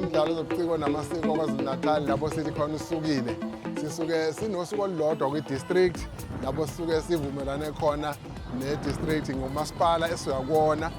umdlalo zobuciko namasiko kwazulu-natal lapho sithi khona usukile sisuke sinosuku olulodwa kwi-district lapho sisuke sivumelane khona ne-district ngomasipala esuka kuwona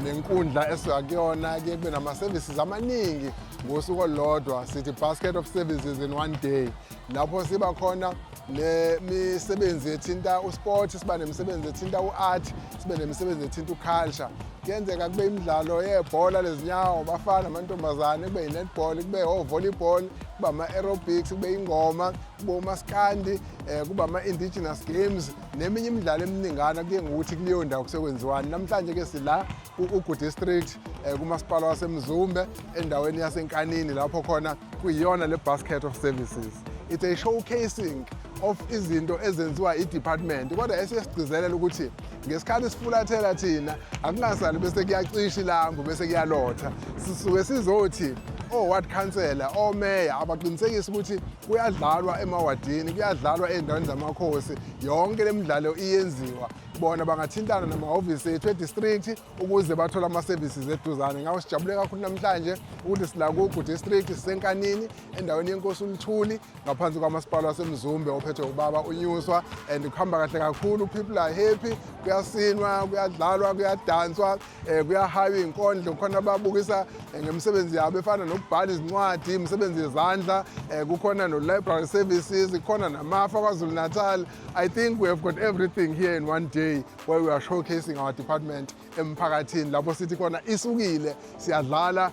nenkundla esuka kuyona ke kube nama-services amaningi ngosuku olulodwa sithi basket of services in one day lapho siba khona nemisebenzi ethinta usport siba nemisebenzi ethinta u-art sibe nemisebenzi ethinta uculture kuyenzeka kube imidlalo yebhola lezinyawo bafana amantombazane kube yi-netball kube o-volleyball kube ama-aerobics kube ingoma kube umaskandi um eh, kube ama-indigenous games neminye imidlalo eminingana kuye ngokuthi kuleyo ndawo kusekwenziwani namhlanje ke sila ku-ugu district um kumasipala wasemzumbe endaweni yasenkanini lapho khona kuyiyona le basket of services it's a showcasing of izinto ezenziwa i-department kodwa esiye sigcizelela ukuthi ngesikhathi sifulathela thina akungasali bese kuyacisha ilambu bese kuyalotha sisuke sizothi o-ward councillor omeya abaqiniseki ukuthi kuyadlalwa emawadini kuyadlalwa ezindaweni zamakhosi yonke le midlalo iyenziwa bona bangathintana namahhovisi ethu edistrict ukuze bathole ama-services eduzane ngakho sijabule kakhulu namhlanje ukuthi silakugu district sisenkanini endaweni yenkosi uluthuli ngaphansi kwamasipala wasemzumbe ophethwe ubaba unyuswa and kuhamba kahle kakhulu people are happy kuyasinwa kuyadlalwa kuyadanswa um kuyahayiwa iy'nkondlo khona ababukisa eh, ngemisebenzi yabo efana nokubhala izincwadi imisebenzi yezandla um kukhona no-library services kukhona namafa kwazulu natal i think we have got everything here in one day where we are showcasing our department emphakathini lapho sithi khona isukile siyadlala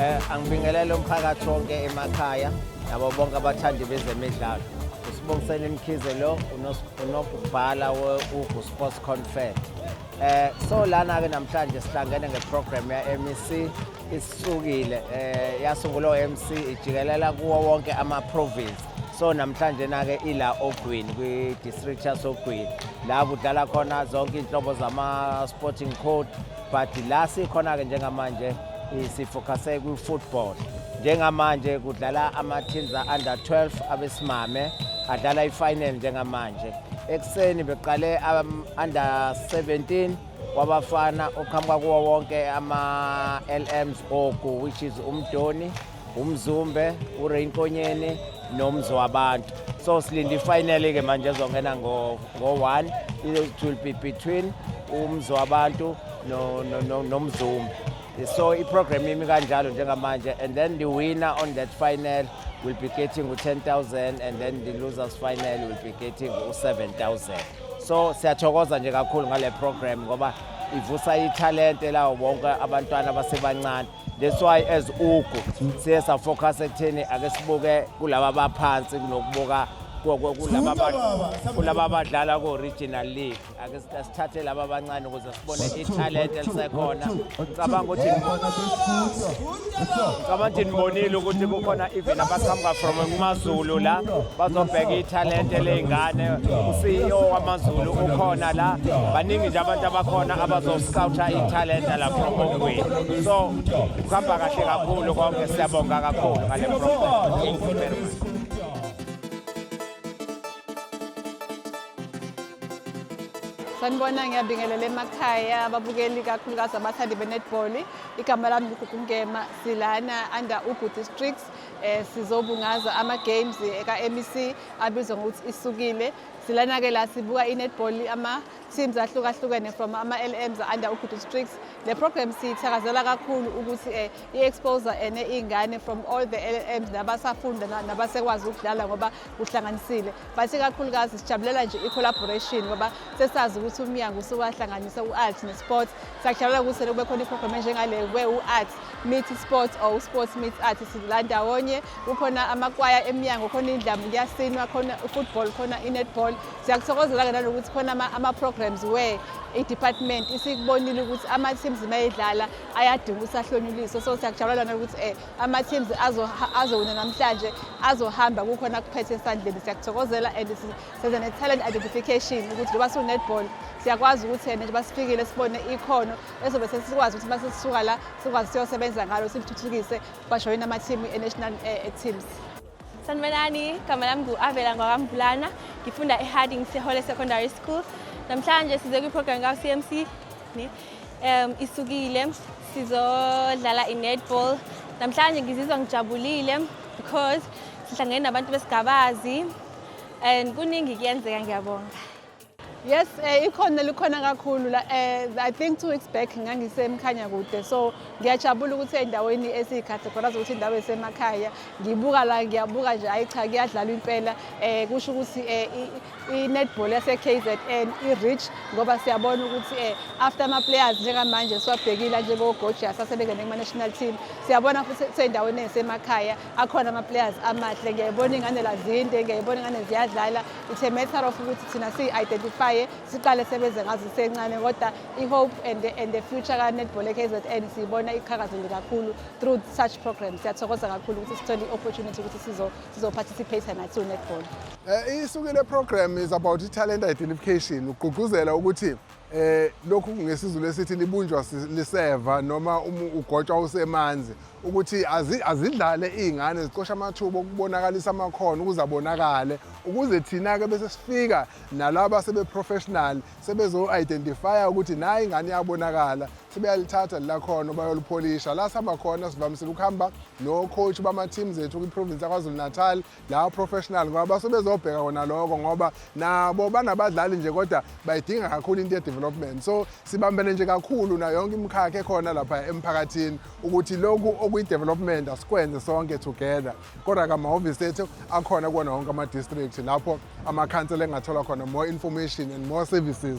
Eh angibingelele umphakathi wonke emakhaya nabo bonke abathandi bezemidlalo. Usibongisele imkhize lo unokubhala uGu Sports Confer. Eh so lana ke namhlanje sihlangene ngeprogram ya MEC isisukile eh yasungulwa uMC ijikelela kuwo wonke ama province. so namhlanje nake ila ogwini kwi-district yasogwini la kudlala khona zonke iy'nhlobo zama-sporting code but la sikhona-ke njengamanje sifocusse kwi-football njengamanje kudlala ama-teams a-under 12 abesimame adlala i-final njengamanje ekuseni beqale ama-under 17 wabafana oqhamuka kuwo wonke ama-lms ogu which is umdoni umzumbe urain konyeni nomzi wabantu so silinde ifinally ke manje ezongena ngo-one it will be between umzi wabantu nomzumbe so iprogram imi kanjalo njengamanje and then the winner on that final will be getting u-10000 and then the losers final will be getting u-7000 so siyathokoza nje kakhulu ngale program ngoba ivusa ithalente lawo bonke abantwana abasebancane That's why as ugu siye safocus ekutheni ake sibuke kulaba baphansi kunokubuka kulaba abadlala ko-regional league ake sithathe laba abancane ukuze sibone ithalent elisekhona ngicabanga ukuthi ngicabanga ukuthi nibonile ukuthi kukhona even abaqhamuka from kumazulu la bazobheka ithalent eley'ngane uceo wamazulu ukhona la baningi nje abantu abakhona abazosi scoutha ithalenta la from Mokwini so kuhamba kahle kakhulu konke siyabonga kakhulu ngale program sanibona ngiyabingelela emakhaya ababukeli kakhulukazi abathandi be-netball igama lami ngugugungema silana under ugu districts eh sizobungaza ama-games eka-mec abizwa ngokuthi isukile silana-ke la sibuka i-netball ama teams ahlukahlukene from ama-lms under ugudu strix le program siyithakazela kakhulu ukuthi um eh, i-expose ene iy'ngane from all the lms nabasafunda nabasekwazi ukudlala ngoba kuhlanganisile but ikakhulukazi sijabulela nje i-collaboration ngoba sesazi ukuthi umnyango usuwahlanganisa u-art ne-sport siyakujabulela ukuthi selokube khona iprogram enjengale where u-art meet sport or u-sport meet art sidlula ndawonye kukhona amakwaya emnyango khona indlamu kuyasinwa khona i-football khona i-netball siyakuthokozela-ke nanokuthi khona ama-programs where i-department isikubonile ukuthi ama-teams uma edlala ayadinga ukuthi ahlonyuliswe so siyakujabulela nokuthi um eh, ama-teams azowina namhlanje azohamba kukhona kuphethe esandleni siyakuthokozela and senza ne-talent identification ukuthi njengoba siwu-netball siyakwazi ukuthi yena njengoba sifikile sibone ikhono ezobe sesikwazi ukuthi uma sesisuka la sikwazi siyosebenza ngalo silithuthukise bajoyina ama-team e-national eh, teams Sanibonani, igama lami ngu-Avela Ngwakamvulana, ngifunda eHarding Sehole Secondary School. Namhlanje size kwiprogram ka-CMC um isukile sizodlala i-netball. Namhlanje ngizizwa ngijabulile because sihlangene nabantu besigabazi and kuningi kuyenzeka ngiyabonga. Yes, eh, ikhona likhona kakhulu la eh, I think two weeks back ngangisemkhanya kude so ngiyajabula ukuthi endaweni esiyicategorize ukuthi indawo esemakhaya ngibuka la ngiyabuka nje hayi cha kuyadlalwa impela eh kusho ukuthi eh, i-netball yase-KZN i-rich ngoba siyabona ukuthi eh, after ama-players njengamanje siwabhekile njengogojasa asebengene kuma-national team siyabona futhi kusendaweni esemakhaya akhona ama-players amahle ngiyayibona ingane lazinde ngiyayibona ingane ziyadlala it's a matter of ukuthi thina siyi-identifye siqale sebenze ngazo isencane kodwa i-hope and, and the future ka-netball e-kzn siyibona iqhakazile kakhulu through such programs siyathokoza kakhulu ukuthi sithole i-opportunity ukuthi sizoparticipate nathi u-netball um eh, isuke le program is about i-talent identification ugqugquzela ukuthi eh lokhu ngesizulu esithi libunjwa liseva noma uma ugotshwa usemanzi ukuthi azidlale izingane zicosha amathuba okubonakalisa amakhono ukuze abonakale ukuze thina ke bese sifika nalabo sebe professional sebezo identify ukuthi nayi ingane iyabonakala sebeyalithatha lakhono bayolipholisha la sihamba khona sivamisile ukuhamba no coach bama teams ethu kwi province yaKwaZulu Natal lawo professional ngoba base bezobheka kona lokho ngoba nabo banabadlali nje kodwa bayidinga kakhulu into ye-development so sibambene nje kakhulu nayo yonke imikhakha ekhona lapha emphakathini ukuthi lokhu okuyi-development asikwenze sonke together kodwa kamahhovisi ethu akhona kuwona wonke ama-district lapho amakhansela engathola khona more information and more services